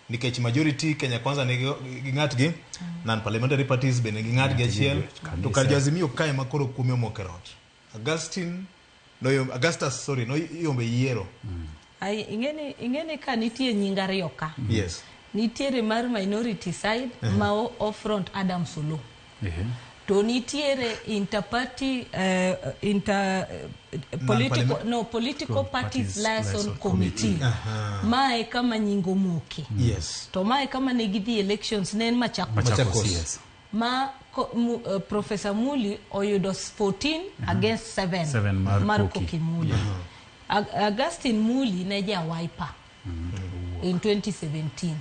nikech majority kenya kwanza ne gi- gi ng'atgi non parliamentary parties bende gi ng'atgi achiel kabisa. to kar joazimio kae ma koro kuome omoko e rot augustin noyom- augustus sorry noyombe yiero Ai, ing'eni ing'eni ka nitie nying ariyo ka yes nitiere mar minority side ma o- o front adam solo to nitiere interparty uh, inter uh, political no political parties liaison committee mae kama nyingo moke yes to mae kama ne gidhi elections ne en machakos Machakos, yes. ma ko, mu, uh, professor muli oyudo 14 against 7 Seven mar mar Koki. koki muli Ag- augustin muli ne ja wiper in 2017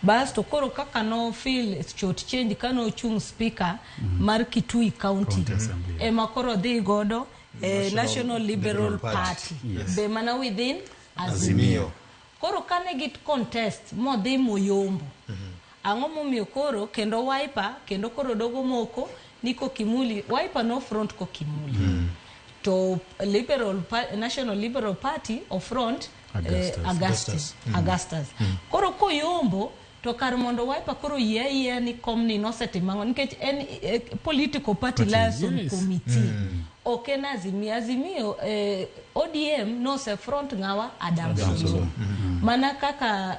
bas to koro kaka no feel short change kane ochung speaker mar Kitui County County Assembly. ema koro dhi godo eh, National Liberal Liberal Party. Party Yes. be mana within Azimio. Azimio koro kane git contest modhi moyombo Ang'o momiyo koro kendo wiper kendo koro dogo moko ni kokimuli wiper no front kokimuli mm. to liberal national liberal party of front eh, augustus, eh, augustus. Mm. augustus. Mm. koro koyombo to kar mondo wiper koro yie ayie ni komni nosetimo ang'o nikech en eh, political party liaison yes. committee mm. ok en azimio azimio eh, odm nose front ng'awa adamsolo mm. Mm-hmm. mana kaka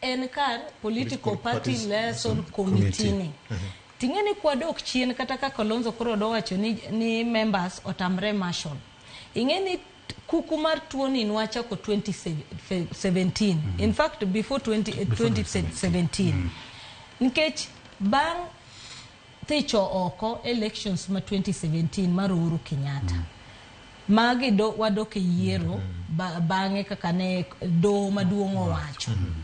en kar political party liaison committee ni ting'e ni kwadok chien kata ka Kalonzo koro dowacho ni, ni members otamre marshal ing'e ni kuku mar tuoni nwachako 2017 in fact before 20, 2017 nikech bang' thicho oko elections ma 2017 mar Uhuru Kenyatta mm. magi do, wadok e yiero mm -hmm. ba, bang'e kaka ne doho maduong' owacho mm -hmm.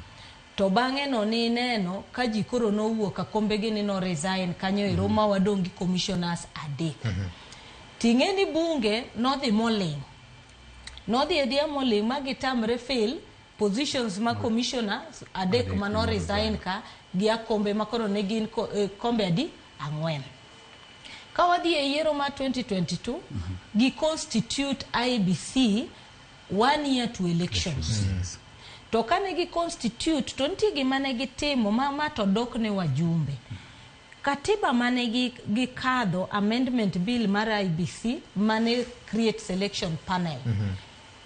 to bang'e no ni neno ka ji koro nowuok akombegi ni no resign kanyo ero mm -hmm. ma wadong' gi commissioners adek mm -hmm. ting'e ni bunge nodhi moling' nodhi edhiya moling' ma gitamre fail positions ma commissioner adek Adek mano mano resign ka gi akombe ma koro ne gin ko- eh, kombe adi ang'wen ka wadhi e yiero ma 2022 gi constitute IBC one year to elections to kane gi constitute to nitie gima ne gitimo ma ma to dok ne wajumbe katiba mane gi- gikadho amendment bill mar IBC mane create selection panel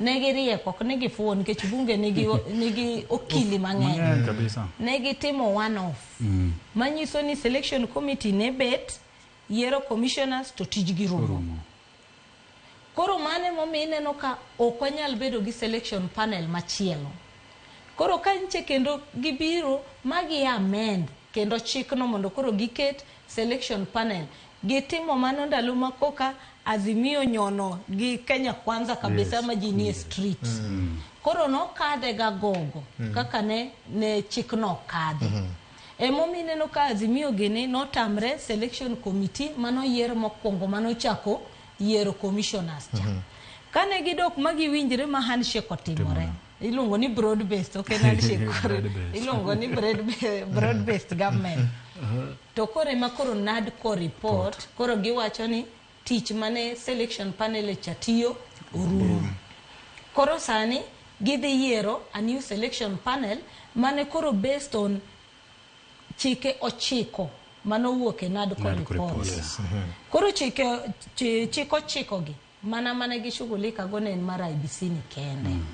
ne giriek ok ni gifuwo nikech bunge nigi, nigi okili mang'eny kabisa ne gitimo one off mm. manyiso ni selection committee ne bet yiero commissioners to tijgi rumo koro mane momiyo ineno ka ok wanyal bedo gi selection panel machielo koro ka nche kendo gibiro ma gi amend kendo chikno mondo koro giket selection panel Gitimo mano ndalo ma koka Azimio nyono gi Kenya Kwanza kabisa Yes. ma ji nie street. Koro nokadhe ga gogo kaka ne, ne chikno okadhi. Emomiyo ineno ka Azimio gini notamre selection committee manoyier mokwongo manochako yiero commissioners cha. Kane gidok ma giwinjre ma handshake otimore. iluongo ni broad based ok en handshake iluongo ni broad based government uh-huh. to koro ema koro nad ko report koro giwacho ni tich mane selection panel cha tiyo orumo koro sani gidhi yiero a new selection panel mane koro based on chike ochiko mano wuok e nad ko report uh-huh. koro chike chiko chiko gi Mana mane gi shughulika go ne en mar IBC ni kende. Mm.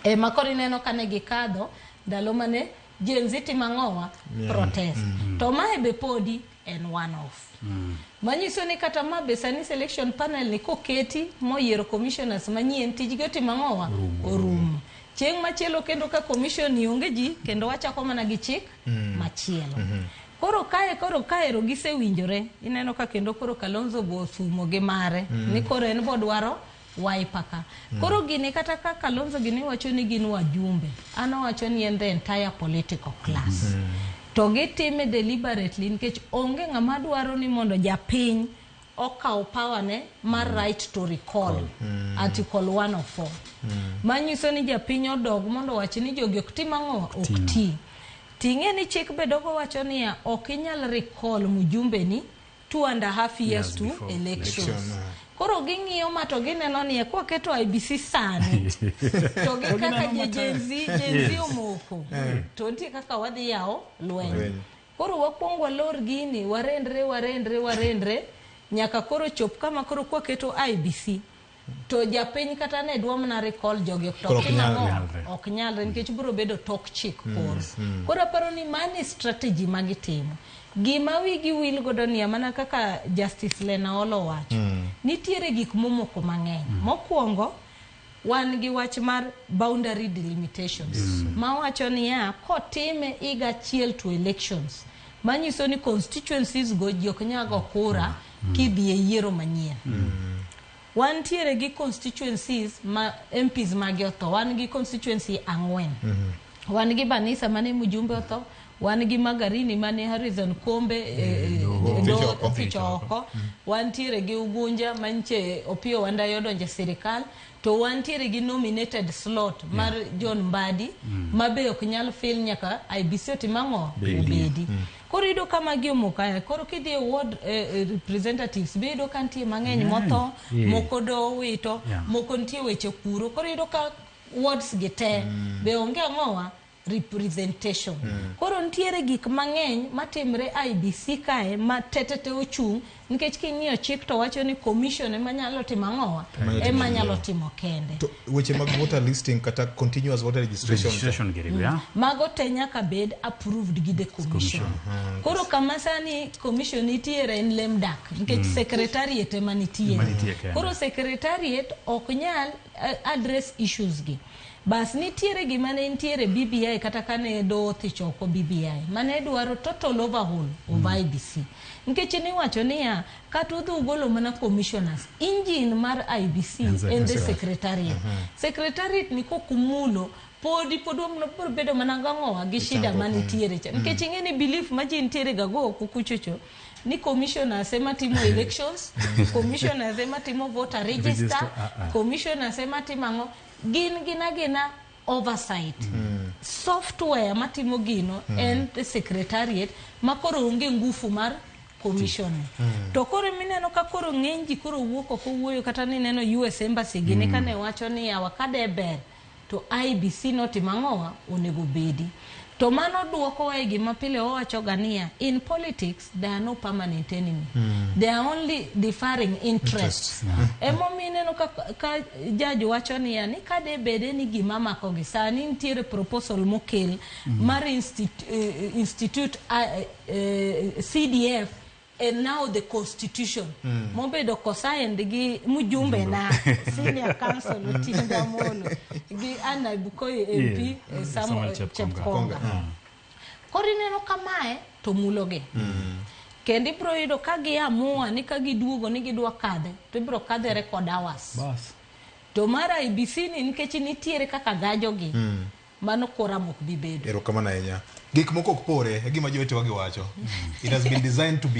E ma koro ineno ka ne gikadho ndalo mane Gen Z timo ang'owa yeah. protest. Mm -hmm. To mae be podi en one off. Mm. Manyiso ni kata ma be sani selection panel ni koketi moyiero commissioners manyien tijgi otimo ang'owa orumo. Chieng' machielo kendo ka commission ni onge ji kendo wachako mana gi chik mm. machielo. Mm -hmm. Koro kae koro kaero gisewinjore ineno ka kendo koro Kalonzo bo thumo gi mare mm. ni koro en bodwaro wiper ka mm. koro gini kata ka Kalonzo gini wacho ni gin wajumbe an owacho ni en the entire political class mm. to gitime deliberately nikech onge ng'ama dwaro ni mondo japiny okawo power ne mar right to recall article 104 manyiso ni japiny odog mondo owach ni jogi ok tim ang'o ok ti ting'e ni chik be dogo wacho niya ok inyal recall mujumbeni two and a half years Years to before elections election, ah. koro ging'iyo ma to gineno ni ekwa keto IBC sani to gi kaka je- Gen Z Gen Z omoko to nitie kaka wadhi yawo lweny Koro wakwong walor gini, warendre, warendre, warendre nyaka koro chop kama koro kwaketo IBC to japiny kata ne dwa mana recall jogi to Koro ok timo nyal ang'o? nyalre. ok nyalre nikech biro bedo tok chik koro mm. koro aparo ni mano e strategy ma gitimo gima wigi wil godo ni mana kaka justice lena olo wacho nitiere gik momoko mang'eny mokwongo wan gi wach mar boundary delimitations yes. mawacho niya kotime higa achiel to elections manyiso ni constituencies go ji ok nyago kura mm. mm. kidhi e yiero manyien mm. wantiere gi constituencies ma MPs magi otho wan gi constituency ang'wen mm -hmm. Wan gi Banisa mane Mjumbe otho, wan gi Magarini mane Harrison Kombe e, e, doho. e, doho Oficho oficho oko. oko, wantiere gi Ugunja manche Opiyo Wandayi odonje sirikal, to wantiere gi nominated slot mar John Mbadi ma be ok nyal fil nyaka IBC otim ang'o? Bedi. Obedi. Koro iyudo ka magi omoko aya. Koro kidhi e ward eh, eh, representatives be iyudo ka nitie mang'eny motho, Yeah. moko dowito, Yeah. moko nitie weche kuro. Koro iyudo ka wards gi te mm. be onge ang'owa representation mm. koro nitiere gik mang'eny matimre IBC kae ma tetete ochung' nikech king'iyo chik to wacho ni commission ema nyalo timo ang'owa ema nyalo timo kende to weche mag voter listing kata continuous voter registration, registration mm. yeah. mago te nyaka bed approved gi the commission mm. koro kama sani commission nitiere en lemdak nikech mm. secretariat ema nitie koro secretariat ok nyal address issues gi bas nitiere gima ne nitiere e BBI kata kane do thich oko BBI mane dwaro total overhaul of mm. IBC nikech niwacho niya kata udhi ugolo mana commissioners engine mar IBC en the secretariat mm -hmm. secretariat ni kokumulo podi pod wabiro bedo mana gang'owa gi shida manitiere cha mm. nikech ing'e ni belief ma ji nitiere gago kukuchocho ni commissioners ema timo elections commissioners ema timo voter register, Register, ah, ah. commissioners ema timo ang'o gin gina gina oversight software matimo gino en the secretariat ma koro onge ngufu mar commission to koro mineno ka koro ng'eny ji koro wuok ok owuoyo kata nineno us embassy gini kane wacho ni yawa kade ber to IEBC notimo ang'owa, onego obedi. To mano duokowa e gima pile wawachoga niya, in politics there are no permanent enemy. Mm. They are only differing interests. interests. Emomiyo ineno ka, ka judge wacho niya ni ka de bede ni gima makogi sani nitiere proposal mokel mm. mar institute, uh, institute uh, eh, uh, eh, CDF and now the constitution mm. mobedo kosigned gi mjumbe na senior council Otinda Amolo gi an naibu Koyo MP yeah. Eh, Samuel Chepkonga ah. koro ineno kamae to mulogi mm. kendo ibiro yudo ka giamua ni ka giduogo ni gidwa kadhe to ibiro kadhe record hours Bas. to mar IBC ni nikech nitiere kaka gajogi mm. mano kora mok bibedo erokamano ahinya gik moko ok pore e gima jowetewa giwacho mm. it has been designed to be